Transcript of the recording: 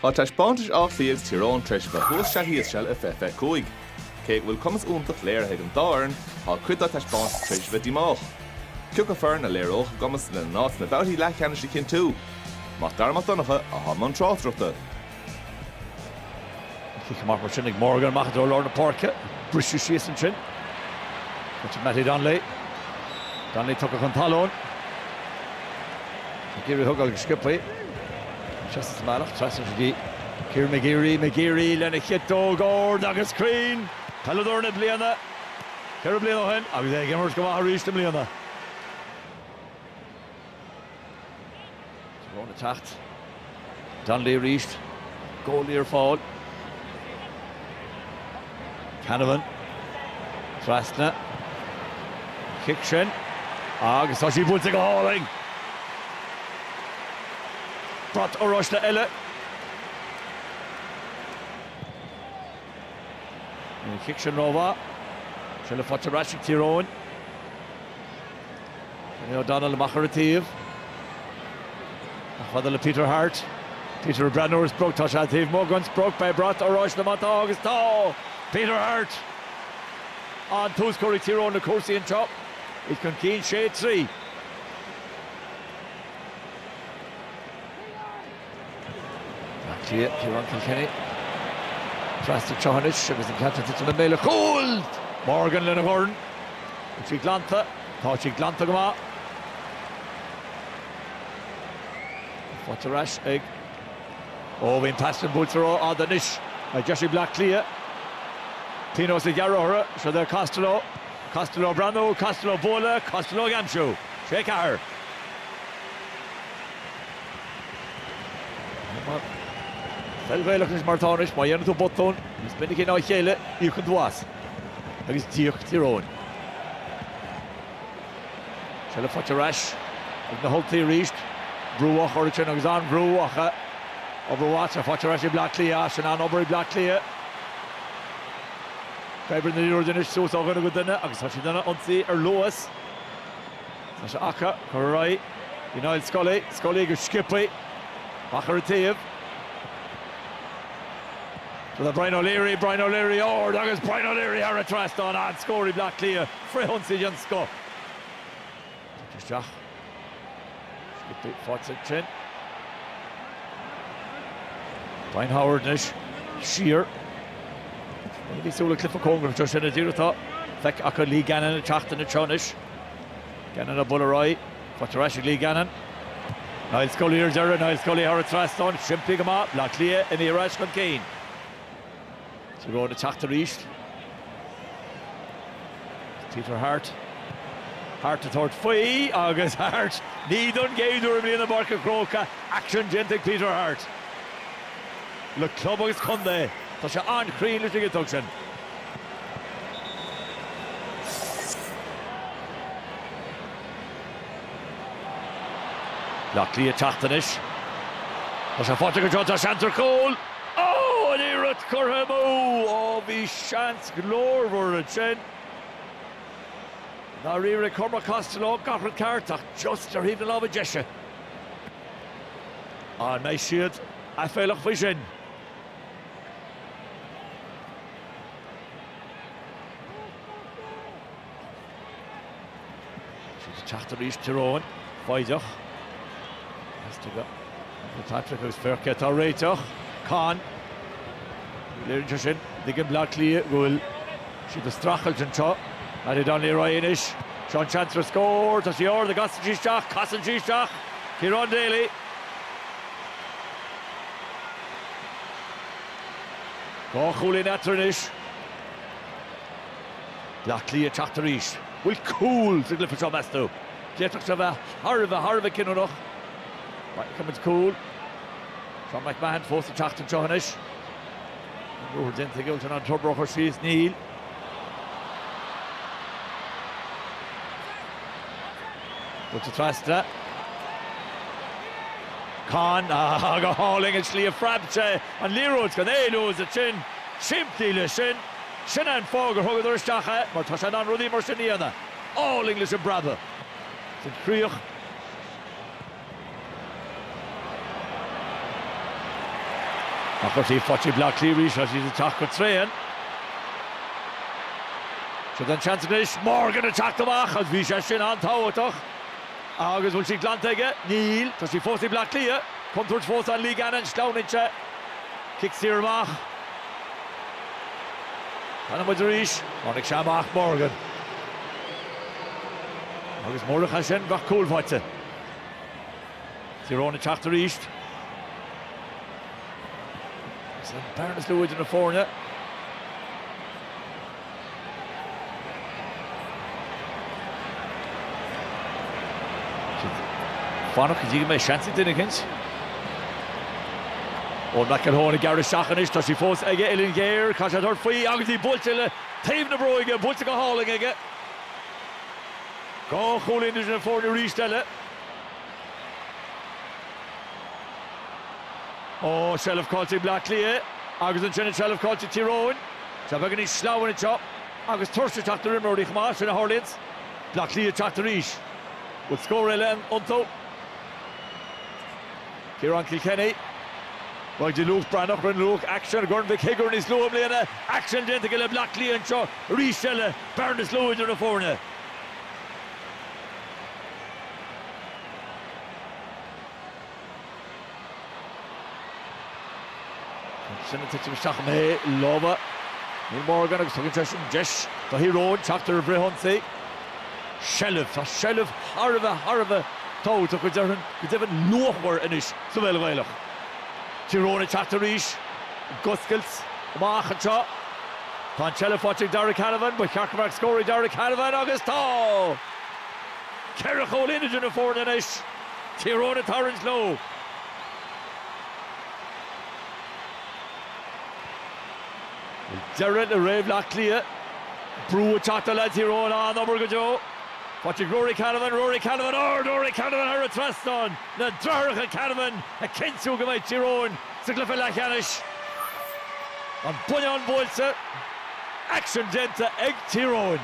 Tá taispeántais Átha Cliath agus Tír Eoghain tar éis a bheith thuas sea thíos seal i fiche fiche cúig. Cé go bhfuil cumas iontach léirithe ag an dá fhoireann, tá cuid dá taispeántais tar éis a bheith díomách. Cén fhoireann a léireodh a gcumas lena n-áit sna babhtaí leathcheannais a chinntiú. Mac Dara Mac Donncha i mbun tráchtaireachta. Cic amach mar sin ag Morgan, amach i dtreo lár na páirce. Briseadh síos ansin. Mattie Donnelly. Donnelly tugtha chun talún. Ag iarraidh í a thógáil go sciobtha. Ina sheasamh amach, trasna go dtí Kieran McGeary. McGeary lena chiotóg ard agus cruinn. Peileadóir na bliana ceithre bliana ó shin agus é ag imirt go maith arís i mbliana. Tír Eoghain ag teacht, Donnelly arís, Goldie ar fáil, Canavan trasna an cic sin agus tá sí buailte go hálainn! Brat oráiste eile, an cic sin rómhaith. Seilbh faighte ar ais ag Tír Eoghain. Ó Donnelly amach ar an taobh. Chomh fada le Peter Harte. Peter ag breathnú ar an sprioc, tá sé an taobh amuigh den sprioc, beidh brat oráiste má tá agus tá! Peter Harte an dtús, scór ag Tír Eoghain na cúrsaí anois, iad chun cinn sé, trí. Bleá Cliath, Ciarán Kilkenny. Trasna tráth anois agus an ceann ag titim i mbéal an chúil! Morgan lena dhorn. Tá sí glanta. Tá sí glanta go maith. Faighte ar ais ag. Ó, bhí an pas sin buailte rófhada anois agus deis ag Bleá Cliath. Pionós a ghearradh orthu. Suas do Costello. Costello ag breathnú, Costello ag bualadh, Costello ag aimsiú. Sé ceathair. Peil Ghaelach anois mar tá anois, má dhéanann tú botún níos minicí ná a chéile, íocann tú as. Agus d'íoc Tír Eoghain. Seilbh faighte ar ais ag na hUltaigh arís. Brú á chur ansin agus an-bhrú acu. Obair mhaith atá faighte ar ais ag Bleá Cliath as sin. An-obair ag Bleá Cliath. Coinneáil na liathróide anois suas ó dhuine go duine agus tá siad ag ionsaí ar luas. Tá sé acu. Cur ar aghaidh. Go Niall Scully. Scully go sciobtha. Amach ar an taobh. Go dtí Brian O'Leary. Brian O'Leary ard agus Brian O'Leary thar an trasnán. An-scór ag Bleá Cliath. Frithionsaí den scoth. Tugtha isteach. Sciobtha faighte ansin. Brian Howard anois. Siar. Arís ag Bleá Cliath. Cóngarach go díreach atá feicthe acu Lee Gannon an tseachtain seo anois. Gannon a bhuail ar aghaidh. Tugtar ar ais ag Lee Gannon. Niall Scully ar deireadh. Niall Scully thar an trasnán. Simplí go maith. Bleá Cliath imithe ar ais chun cinn. Tír Eoghain ag teacht arís. Peter Harte. Harte ag tabhairt faoi agus Harte! Ní don gcéad uair i mbliana i bPáirc an Chrócaigh, éacht déanta ag Peter Harte. Le club agus contae, tá sé an-chruinn leis na ciceanna sin. Bleá Cliath ag teacht anois. Tá sé faighte go deo de sheans ar chúl. Oh! An iarracht curtha amú! Oh, bhí seans glórmhar ansin. Dháiríre ag Cormac Costello, gach rud ceart ach just ar thaobh na láimhe deise. An mbeidh siad aiféalach faoi sin? Siad ag teacht arís, Tyrone, foighdeach, theastaigh ó Fitzpatrick agus Firket atá réiteach, Con, léiríonn sé sin i dtaobh Bleá Cliath go bhfuil siad ag streachailt anseo, Paddy Donnelly ar aghaidh anois, seo an seans ar scór, tá sí ard, an gcasann sí isteach, casann sí isteach, Ciarán Daly. Dhá chúilín eatarthu anois. Baile Átha Cliath ag teacht arís. Bhfuil cúl sa gcluiche seo, meas tú? D'fhéadfadh sé a bheith thar a bheith, thar a bheith cinniúnach. Dá bhfeicfeadh muid cúl. Seán McMahon fós ag teacht anseo anois. An ruathar déanta aige, bhfuil sé in ann an dobar a chur síos? Níl. Buailte trasna. Con, go hálainn an tslí a phreab sé an liathróid chun éalú as ansin. Simplí leis sin. Sin é an fáth gur thugadar isteach é, mar tá sé in ann rudaí mar sin a dhéanamh. Álainn leis an bpreabadh. Sin críoch. Ach ar thaobh na páirce, Bleá Cliath arís, tá siad ag teacht go tréan. Seo é an seans anois, Morgan ag teacht amach agus bhí sé sin an-tábhachtach. Agus bhfuil sí glanta aige? Níl. Tá sí fós ag Bleá Cliath. Contúirt fós ann Lee Gannon, sleamhnaíonn sé. Cic saor amach. Feiceann muid arís. Tháinig sé amach, Morgan. Agus murach é sin, bheadh cúl faighte. Tyrone ag teacht arís. Is é an bhearna is lú idir na foirne. Fanacht go dtí go mbeidh seans ag duine eicínt. Eoin McElholm ag gearradh isteach anois, tá sí fós aige, uillinn ghéar, caithfidh sé tabhairt faoi agus í buailte le taobh na bróige, buailte go hálainn aige. Dhá chúl idir na foirne arís eile. Ó, seilbh caillte ag Bleá Cliath agus ansin an seilbh caillte ag Tír Eoghain. Tá, beidh sé níos sleamhain anseo agus tuirse ag teacht ar imreoirí chomh maith, sin a tharlaíonns. Bleá Cliath ag teacht arís. Bhfuil scór eile iontu? Ciarán Kilkenny. Beag, do Luke Breathnach, rinne Luke éacht i gCorn Mhic Shigiúir níos luaithe i mbliana. Éacht déanta aige le Bleá Cliath anseo arís eile. Bearna is lú idir na foirne. Agus sin ag titim isteach i lámha Niall Morgan agus tugann sé sin deis do Thír Eoghain teacht ar an bhfrithionsaí. Seilbh, tá seilbh thar a bheith thar a bheith tábhachtach go deimhin anois sa pheil Ghaelach. Tír Eoghain ag teacht arís. Ag oscailt amach anseo. Tá an tseilbh faighte ag Darragh Canavan. Ba cheart go mbeadh scór ag Darragh Canavan agus tá! Ceithre chúl idir na foirne anois. Tír Eoghain ag tarraingt leo. Deireadh le ré Bhleá Cliath. Brú ag teacht ar leads Thír Eoghain. An-obair go deo. Faighte ag Ruairí Canavan. Ruairí Canavan ard! Ruairí Canavan thar an trasnán! na deartháireacha Canavan ag cinntiú go mbeidh Tír Eoghain sa gcluiche leathcheannais. An bonnán buailte, éacht déanta ag Tír Eoghain.